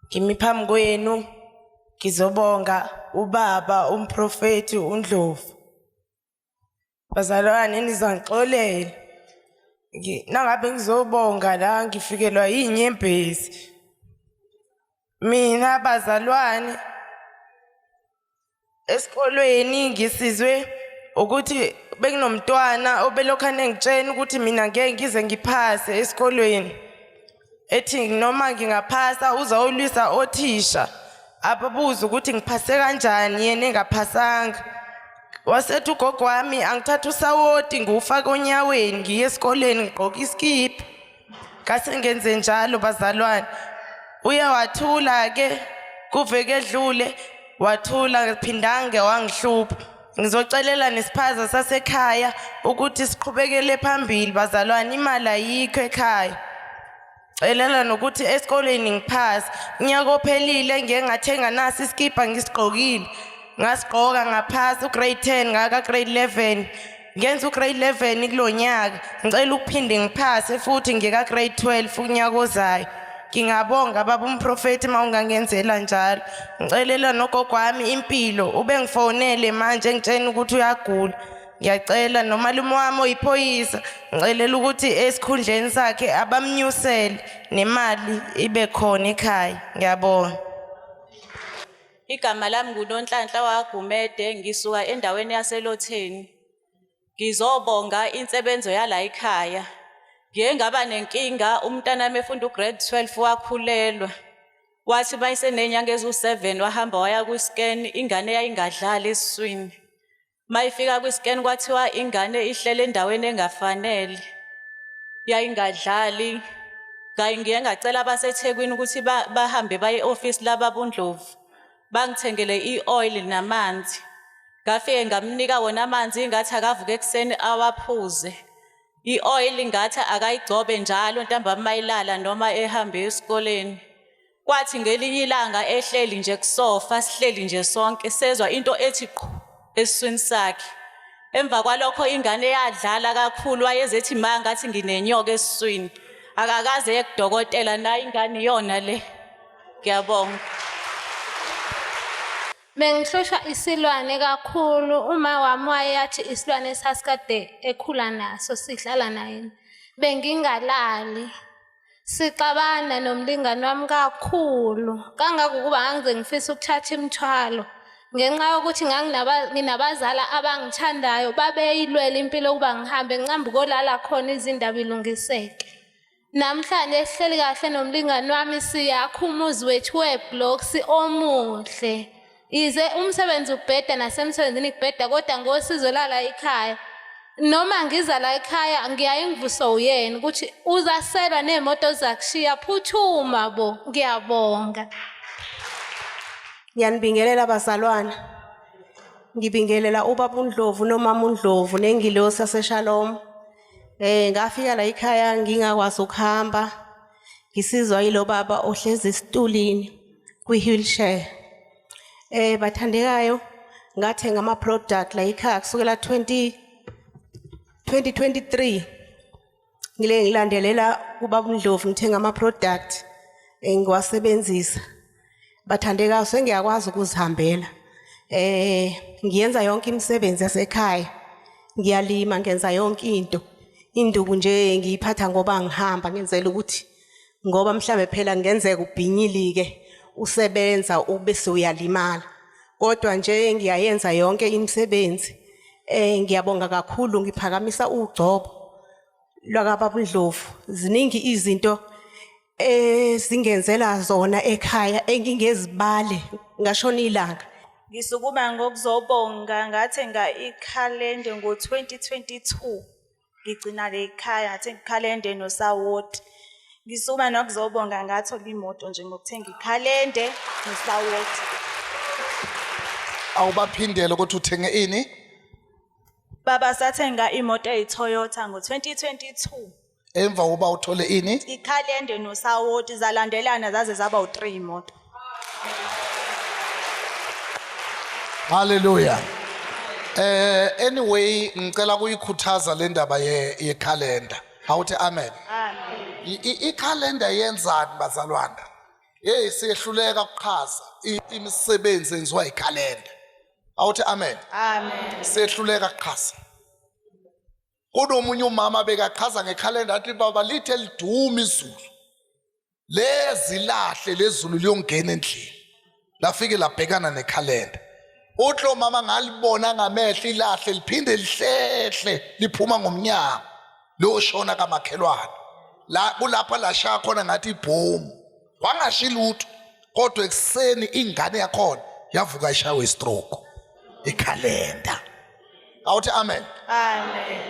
ngimi phambi kwenu ngizobonga ubaba umprofeti uNdlovu bazalwane nizangixolela nangabe ngizobonga la ngifikelwa yinyembezi mina bazalwane esikolweni ngisizwe ukuthi benginomntwana obelokhu anengitshena ukuthi mina ngeke ngize ngiphase esikolweni ethi noma ngingaphasa uzawulwisa othisha ababuze ukuthi ngiphase kanjani yena engaphasanga wasethi ugogo wami angithatha usawoti ngiwufake onyaweni ngiye esikoleni ngigqoke isikipha kasengenze njalo bazalwane uye wathula ke kuveke edlule wathula phindange wangihlupha ngizocelela nesiphaza sasekhaya ukuthi siqhubekele phambili bazalwane imali ayikho ekhaya celela nokuthi esikoleni ngiphasa unyaka ophelile ngeke ngathenga naso isikibha ngisigqokile ngasigqoka ngaphasa ugrade 10 ngaka grade 11 ngenza ugrade 11 kulo nyaka ngicela ukuphinde ngiphase futhi ngikagrade 12 unyaka ozayo ngingabonga baba umprofethi uma ungangenzela njalo ngicelela nogogo wami impilo ube ngifonele manje ngitshena ukuthi uyagula ngiyacela nomalume wami oyiphoyisa ngicelela ukuthi esikhundleni sakhe abamnyusele nemali ibe khona ekhaya ngiyabonga Igama lami nguNonhlanhla waGumede ngisuka endaweni yaseLotheni. Ngizobonga insebenzo yala ekhaya. Ngiye ngaba nenkinga umntanami efunda ugrade 12 wakhulelwa. Wathi mayisenenyanga ezu-7 wahamba waya kwi-scan ingane yayingadlali esiswini. mayifika kwi-scan kwathiwa ingane ihlele endaweni engafanele yayingadlali ngayi ngiye ngacela abasethekwini ukuthi bahambe baye e-ofisi lababundlovu bangithengele i-oil namanzi ngafike ngamnika wona amanzi ngathi akavuke ekuseni awaphuze i-oil ngathi akayigcobe njalo ntambama mayilala noma ehamba esikoleni Kwathi ngelinye ilanga ehleli nje kusofa sihleli nje sonke sezwa into ethi qhu esiswini sakhe. Emva kwalokho ingane yadlala kakhulu wayezethi ma ngathi nginenyoka esiswini. Akakaze yekudokotela nayo ingane iyona le. Ngiyabonga. Bengihlushwa isilwane kakhulu uma wami wayeyathi isilwane sasikade ekhula naso sidlala naye. Bengingalali. Sixabana nomlingani wami kakhulu kangangokuba ngangize ngifisa ukuthatha imithwalo ngenxa yokuthi nginabazala abangithandayo babeyilwela impilo ukuba ngihambe ngiqambe kolala khona izindaba ilungiseke namhlanje sihleli kahle nomlingani wami siyakha umuzi wethu webloksi omuhle Yize umsebenzi ubheda nasemsebenzini kubheda kodwa ngosizo lala ikhaya. Noma ngiza la ekhaya ngiyaye ngivuswa uyena ukuthi uzaselwa neemoto zakushiya phuthuma bo ngiyabonga. Ngiyanibingelela bazalwana. Ngibingelela ubaba uNdlovu nomama uNdlovu nengilosi yaseShalom. Eh ngafika la ekhaya ngingakwazi ukuhamba. ngisizwa yilo baba ohlezi esitulini kwi-wheelchair eh bathandekayo ngathenga ama-product la yikhaya kusukela 20 2023 ngile ngilandelela ubaba undlovu ngithenga ama-product engiwasebenzisa eh, bathandekayo sengiyakwazi ukuzihambela eh ngiyenza yonke imisebenzi yasekhaya ngiyalima ngenza yonke into induku nje ngiyiphatha ngoba ngihamba ngenzela ukuthi ngoba mhlambe phela ngenzeka ubhinyilike usebenza ube sewuyalimala kodwa nje ngiyayenza yonke imisebenzi eh ngiyabonga kakhulu ngiphakamisa ugcobo lwakababundlovu ziningi izinto ezingenzela zona ekhaya engingezibale ngashona ilanga ngisukuma ngokuzobonga ngathe nga ikhalende ngo-2022 ngigcina le khaya ngathe ngikhalende nosawoti ngisukuma nokuzobonga ngathola imoto nje ngokuthenga ikhalende nosawoti awubaphindele ukuthi uthenge ini baba sathenga imoto eyi-toyota ngo-2022 emva kokuba uthole ini ikhalende nosawoti zalandelana zaze zaba u3 imoto haleluya eh anyway ngicela kuyikhuthaza le ndaba ye yekhalenda awuthi amen amen ikhalenda yenzani bazalwana hey siyehluleka ukuchaza imisebenzi enziwa yikhalenda awuthi amen amen siyehluleka ukuchaza kunomunye umama bekachaza ngekhalenda athi baba lithe liduma izulu lezilahle lezulu liyongena endlini lafike labhekana nekhalenda uthi lo mama ngalibona ngamehlo ilahle liphinde lihlehle liphuma ngomnyango loshona kamakhelwane la kulapha lashaya khona ngathi ibhomu wangashi lutho kodwa ekuseni ingane yakhona yavuka ishawe istroke ikhalenda awuthi amen amen